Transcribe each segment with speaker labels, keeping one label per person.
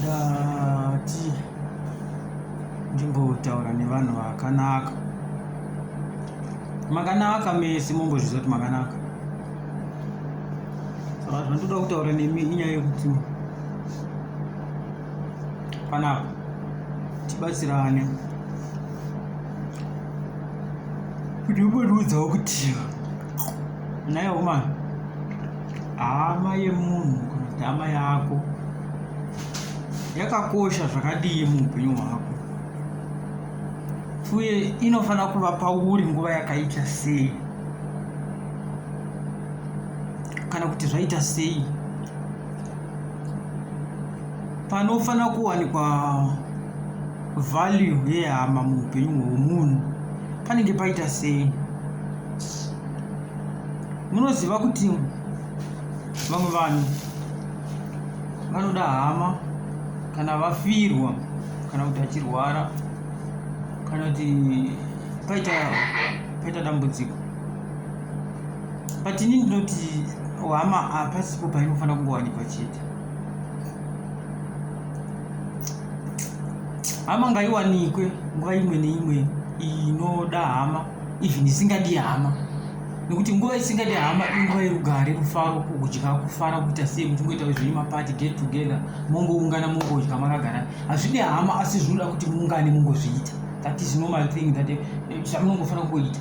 Speaker 1: ndati ndimbotaura nevanhu vakanaka makanaka mese mombozviziva kuti makanaka saka zvandoda kutaura nemi inyaya yekuti panapa tibatsirane kuti umbotiudzawo kuti Naye woman, hama yemunhu kana kuti hama yako yakakosha zvakadii muupenyu hwako uye inofanira kuva pauri nguva yakaita sei kana kuti zvaita sei panofanira kuwanikwa value yehama muupenyu hwomunhu panenge paita sei munoziva kuti vamwe vanhu vanoda hama kana vafirwa kana kuti achirwara kana kuti paita paita dambudziko but ini ndinoti hama hapasipo painofanira kungowanikwa chete hama ngaiwanikwe nguva imwe neimwe inoda hama even isingadi hama nekuti nguva isingadi hama inguva yerugare rufaro kudya kufara kuita sei muchingoita zvenyu mapati get together mongoungana mongodya makagara hazvidi hama asi zvinoda kuti muungane mongozviita that is normal thing that eh, zvamunongofanira kungoita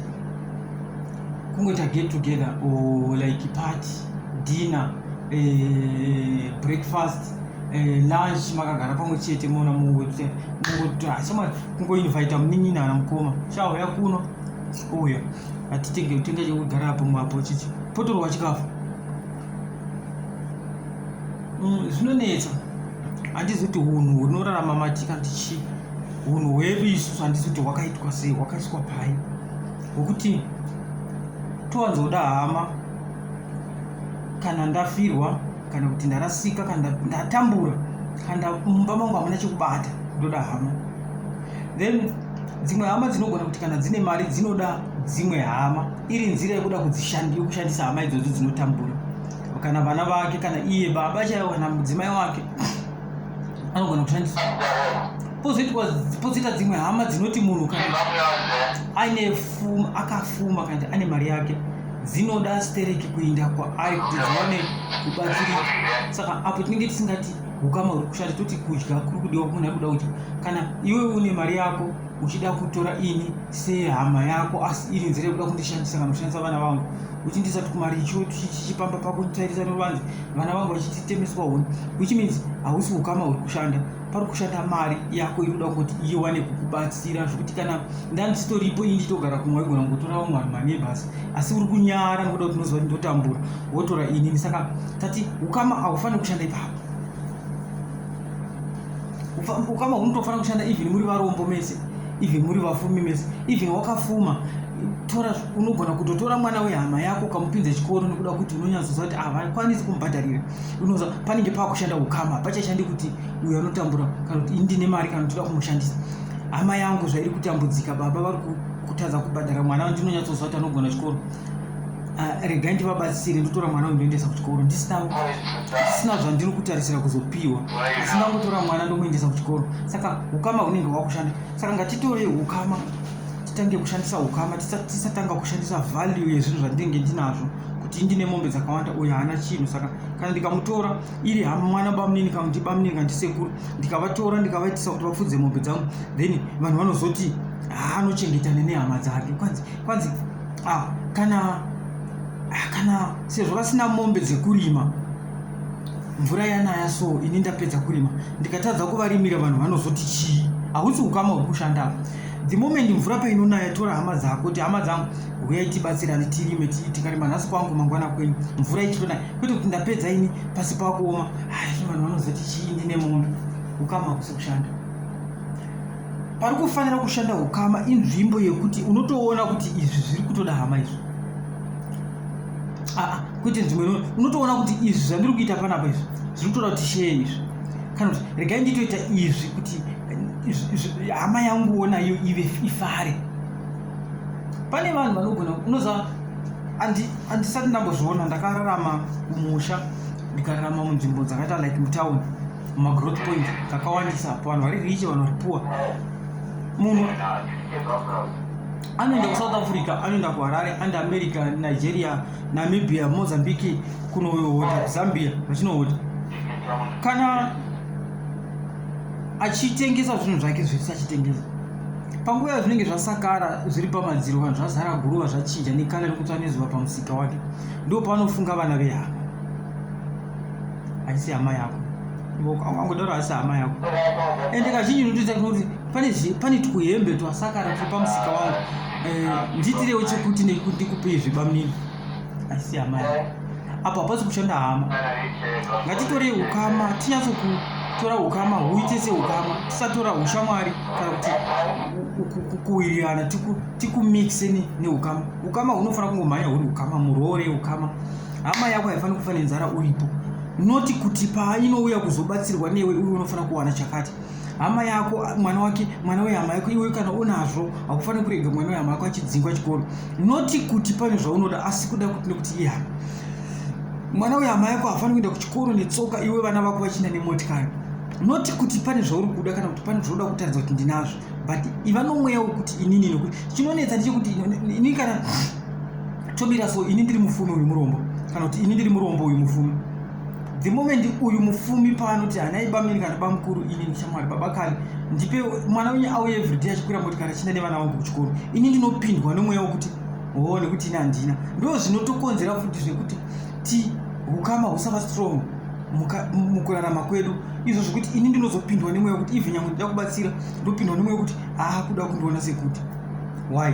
Speaker 1: kungoita get together or like party dinner eh, breakfast eh, lunch makagara pamwe chete mona mungoti mungoti hachama kungoinvita munin'ina ana mukoma chauya kuno uya hatitenge utenga chekugara apo mwapo chichi potorwa chikafu mm, zvinonetsa handizi kuti unhu hunorarama matika kuti chii unhu hwedu isusu handizi kuti hwakaitwa sei hwakaiswa pai hwekuti towanzoda hama kana ndafirwa kana kuti ndarasika kana ndatambura kana mumba mangu hamuna chekubata ndoda hama then dzimwe hama dzinogona kuti kana dzine mari dzinoda dzimwe hama iri nzira yekuda kudzishandisa hama idzodzo dzinotambura kana vana vake kana iye baba chaivo kana mudzimai wake anogona kushandisa pozoita dzimwe hama dzinoti munhu kana aine fuma akafuma kana ane mari yake dzinoda stereki kuinda kwaari kuti dziwane kubatsirika saka apo tinenge tisingati ukama huri kushanda toti kudya kuri kudiwa kumunhu ari kuda kuti kana iwe une mari yako uchida kutora ini sehama yako asi iri nzira yekuda kundishandisa kana kushandisa vana vangu uchindisa tukumari icho chichipamba pako nditairisa neruvanzi vana vangu vachititemeswa huni which means hausi ukama huri kushanda pari kushanda mari yako inoda kuti iwane kukubatsira zvekuti kana ndanditoripo ini nditogara kumwe waigona kungotora vamwe vanhu manebhasi asi uri kunyara nokuda kuti unoziva kuti ndotambura wotora inini saka tati ukama haufaniri kushanda ipapo ukama hunotofanira kushanda even muri varombo mese even muri vafumi mese even wakafuma tora unogona kutotora mwana wehama yako ukamupinza chikoro nokuda kuti unonyatsoziva kuti havakwanisi kumubhadharira unoza panenge pakushanda ukama pachashandi kuti uyo anotambura kana kuti indine mari kana kuti kumushandisa hama yangu zvairi kutambudzika baba vari kutadza kubhadhara mwana ndinonyatsozva kuti anogona chikoro ah, regai ndivabatsire ndotora mwana uyu ndoendesa kuchikoro ndisina zvandiri kutarisira kuzopiwa asi ndangotora mwana ndomuendesa kuchikoro saka ukama hunenge hwakushanda saka ngatitore ukama titange kushandisa ukama tisatanga kushandisa value yezvinhu zvandinenge ndinazvo kuti ndine mombe dzakawanda uyo haana chinhu saka kana ndikamutora iri hama mwana bamunini kana kuti bamunini kana ndisekuru ndikavatora ndikavaitisa kuti vapfudze mombe dzangu then vanhu vanozoti ah, anochengetane nehama dzake kwanzi kwanzi ah, kana ah, kana sezvo vasina mombe dzekurima mvura yanaya so ini ndapedza kurima ndikatadza kuvarimira vanhu vanozoti chii hausi ukama huri kushanda the moment mvura painonaya tora hama dzako kuti hama dzangu huyai tibatsirane tirime tikarima nhasi kwangu mangwana kwenyu mvura ichitonaya kwete kuti ndapedza ini pasi pakuoma hai vanhu vanozoti chii ndine mombe ukama hakusi kushanda pari kufanira kushanda ukama inzvimbo yekuti unotoona kuti izvi zviri kutoda hama izvi aa ah, ah, kwete nzvimbo unotoona kuti izvi zvandiri kuita panapa izvi zviri kutoda kuti shee izvi kana kuti regai nditoita izvi kuti hama yanguwo nayo ive ifare pane vanhu vanogona unoziva handisati ndambozviona ndakararama kumusha ndikararama munzvimbo dzakaita like mutown mumagrowth point kakawandisa pavanhu vari riche vanhu vari puwa munhu anoenda kusouth africa anoenda kuharare and america nigeria Namibia, Mozambique kunohota Zambia vachinohota kana achitengesa zvinhu zvake zvese achitengesa panguva yazvinenge zvasakara zviri pamadziro vanhu zvazara guruva zvachinja nekala nekutsva nezuva pamusika wake ndo paanofunga vana vehama haisi hama yako angodaro haisi hama yako ende kazhinji unotoita kuti pane pane twuhembe twasakara turi pamusika wangu eh, ndiitirewo chekuti ndikupei zvebamunini asi amai apo hapasi kushanda hama ngatitorei ukama tinyatso kutora ukama huite seukama tisatora ushamwari kana kuti kuwirirana tikumixe neukama ukama hunofanira kungomhanya huri ukama muroore ukama hama yako haifaniri kufa nenzara uripo noti kuti painouya kuzobatsirwa newe uye unofanira kuwana chakati hama yako mwana wake mwana wehama yako iwe kana unazvo hakufaniri kurega mwana wehama yako achidzingwa chikoro noti kuti pane zvaunoda asi kuda kuti nekuti ihama mwana wehama yako hafaniri kuenda kuchikoro netsoka iwe vana vako vachienda nemotikari noti kuti pane zvauri kuda kana kuti pane zvaunoda kutaridza kuti ndinazvo but iva nomweya wekuti inini nokuti chinonetsa ndechekuti ini kana tomira so ini ndiri mufumi uyu murombo kana kuti ini ndiri murombo uyu mufumi the moment uyu mufumi paanoti hanai bamini kana bamukuru ini ndichamwari baba kani ndipe mwana wenyu auye everyday achikwira motikari achinda nevana vangu kuchikoro ini ndinopindwa nomweya wekuti hoo nekuti ini handina ndo zvinotokonzera futi zvekuti ti ukama husava strong mukurarama kwedu izvo zvekuti ini ndinozopindwa nemweya wekuti even nyamwe ndida kubatsira ndopindwa nemweya wekuti aakuda kundiona sekuti why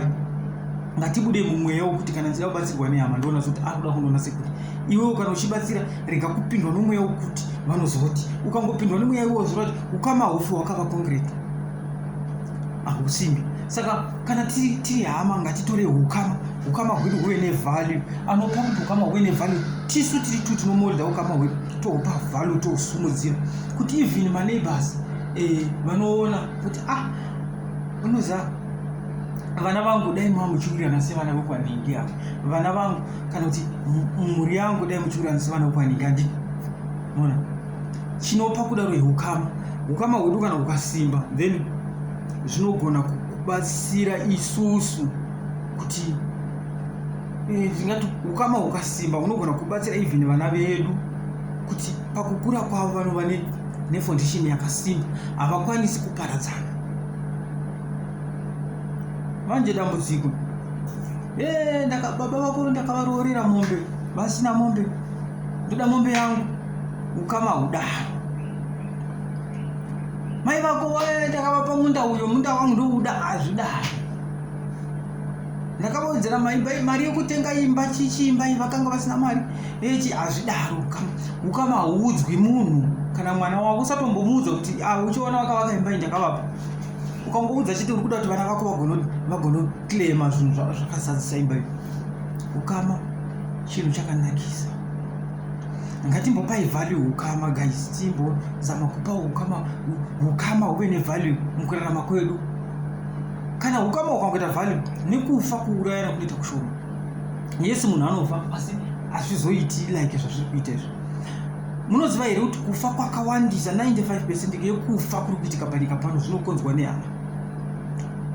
Speaker 1: ngatibude mumweya wokuti kana ndichida kubatsirwa nehama ndoona zoti ari kuda kundoona sekuti iwewo kana uchibatsira rega kupindwa nomweya wokuti vanozoti ukangopindwa nemweya iwowo zvinoti ukama hofu hwakava kongireti hahusimbi saka kana tiri tiri hama ngatitore ukama ukama hwedu huve nevalue anopa kuti ukama huve nevalue tisu tiri tu tinomodha ukama hwedu tohupa value tohusumudzira kuti even maneighbors eh, vanoona kuti ah unoza vana vangu dai mava muchiurirana sevana vekwanhingi avo vana vangu kana kuti mhuri yangu dai muchiurirana sevana vekwanhingi andi ona chinopa kudaro yeukama ukama hwedu kana hukasimba then zvinogona kubatsira isusu kuti eh, tingati ukama hukasimba hunogona kubatsira even vana vedu kuti pakukura kwavo vanova ne nefoundation yakasimba havakwanisi kuparadzana manje dambudziko eh, baba vako ndakavaroorera mombe vasina mombe ndoda mombe yangu ukama hudaro mai vako eh, ndakavapa munda uyo munda wangu ndouda hazvidaro ndakavaudzira mari yekutenga imba chichiimba vakanga vasina mari Ichi hazvidaro ukama. Ukama hauudzwi munhu kana mwana wako usatombomuudza kuti ah uchiona wakavaka imba indakavapa. Ukangoudza chete uri kuda kuti vana vako vagono vagono claima zvinhu zvakasadzisa imba iyo. Ukama chinhu chakanakisa. Ngatimbopai value ukama guys. Timbo zama kupa ukama ukama uve ne value mukurarama kwedu. Kana ukama ukangoita value nekufa kuurayana kunoita kushoma. yes munhu anofa asi hazvizoiti like zvazviri kuita izvo munoziva here kuti kufa kwakawandisa 95 percent yekufa kuri kuitika panyika pano zvinokonzwa nehama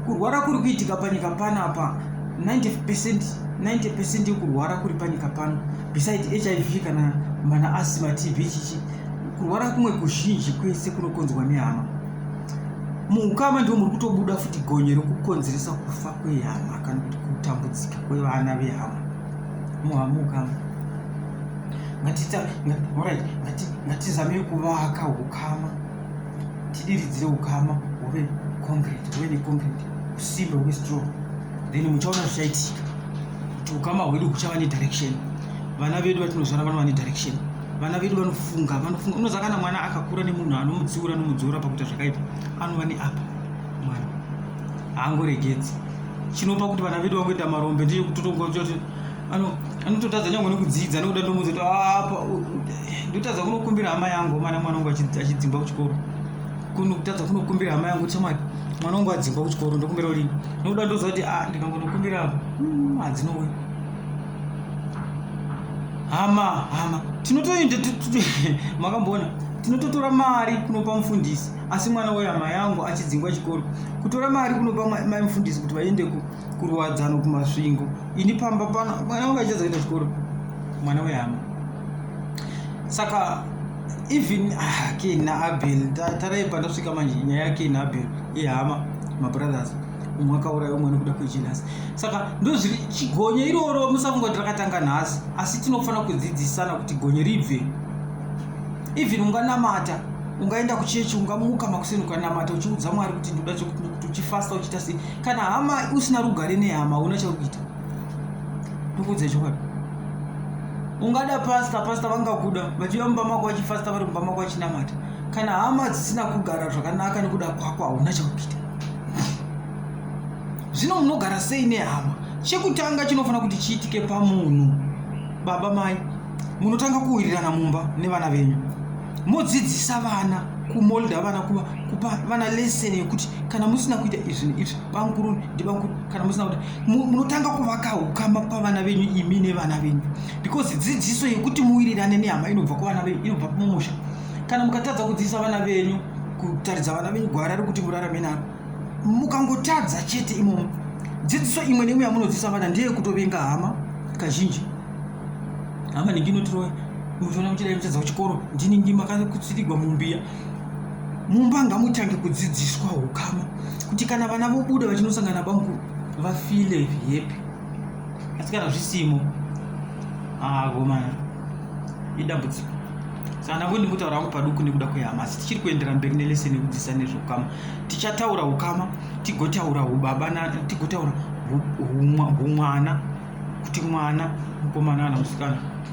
Speaker 1: kurwara kuri kuitika panyika pano apa 90 percent 90 percent yekurwara kuri panyika pano beside hiv kana mana asima tv chichi kurwara kumwe kuzhinji kwese kunokonzwa nehama muukama ndiwo muri kutobuda futi gonye rekukonzeresa kufa kwehama kana kuti kutambudzika kwevana vehama muhamuka ngatizamei kuvaka ukama tidiridzire ukama huve concrete huve neconcrete usimbe huve strong then muchaona zvichaitika kuti ukama hwedu huchava nedirection vana vedu vatinozvara vanova nedirection vana vedu vanofunga vanofunga unoziva kana mwana akakura nemunhu anomutsiura anomudzora pakuita zvakaipa anova neapa mwana haangoregedzi chinopa kuti vana vedu vangoita marombe ndiye kutotongochoti anototadza nyangwe nekudzidza nekuda ndomuudza kuti apa ndotadza kunokumbira hama yangu mana mwana wangu achidzingwa kuchikoro kunotadza kunokumbira hama yangu chamati mwana wangu adzingwa kuchikoro ndokumbira uri nokuda ndoziva kuti a ah, ndikangonokumbira apa hmm, hadzinowe hama hama tinotoenda makamboona tinototora mari kunopa mufundisi asi mwana wehama yangu achidzingwa chikoro kutora mari kunopa mai mufundisi kuti vaende kuruwadzano kumasvingo ini pamba pano mwana wangu achiedza kuenda chikoro mwana wehama saka even ah, ken naabel tarai pandasvika manje nyaya yaken naabel yehama mabrothers umwe akauraya umwe nekuda kwejenhasi saka ndozviri chigonye iroro musafunga kuti rakatanga nhasi asi tinofanira kudzidzisana kuti gonye ribve even unganamata ungaenda kuchechi ungamuka makuseni ukanamata uchiudza mwari kuti ndoda chekuti uchifasta uchiita sei kana hama usina rugare nehama hauna chakuita ndokuudza chokwadi ungada pasta pasta vangakuda vachiva mumba mako vachifasta vari mumba mako vachinamata kana hama dzisina kugara zvakanaka nekuda kwako hauna chakuita zvino munogara sei nehama chekutanga chinofanira kuti chiitike pamunhu baba mai munotanga kuwirirana mumba nevana venyu modzidzisa vana kumolda vana kuva kupa vana lesson yekuti kana musina kuita izvi neizvi bamukuru ndibamukuru kana musina kuita munotanga kuvaka ukama pavana venyu imi nevana venyu because dzidziso yekuti muwirirane nehama inobva kuvana venyu inobva mumusha kana mukatadza kudzidzisa vana venyu kutaridza vana venyu gwara rekuti murarame naro mukangotadza chete imomo dzidziso imwe neimwe yamunodzisa vana ndeye kutovenga hama kazhinji hama ndingi inotiroya munotoona kuti dai muchadza kuchikoro ndiningi makakutsitigwa mumbiya mumba ngamutange kudzidziswa ukama kuti kana vana vobuda vachinosangana bamukuru vafile hepi asi kana zvisimo akomana ah, idambudziko saka ndangoti ndikutaura hangu paduku nekuda kwehama asi tichiri kuendera mberi neleseni yekudzidzisa nezveukama tichataura ukama tigotaura ubaba tigotaura humwana kuti mwana mukomana kana musikana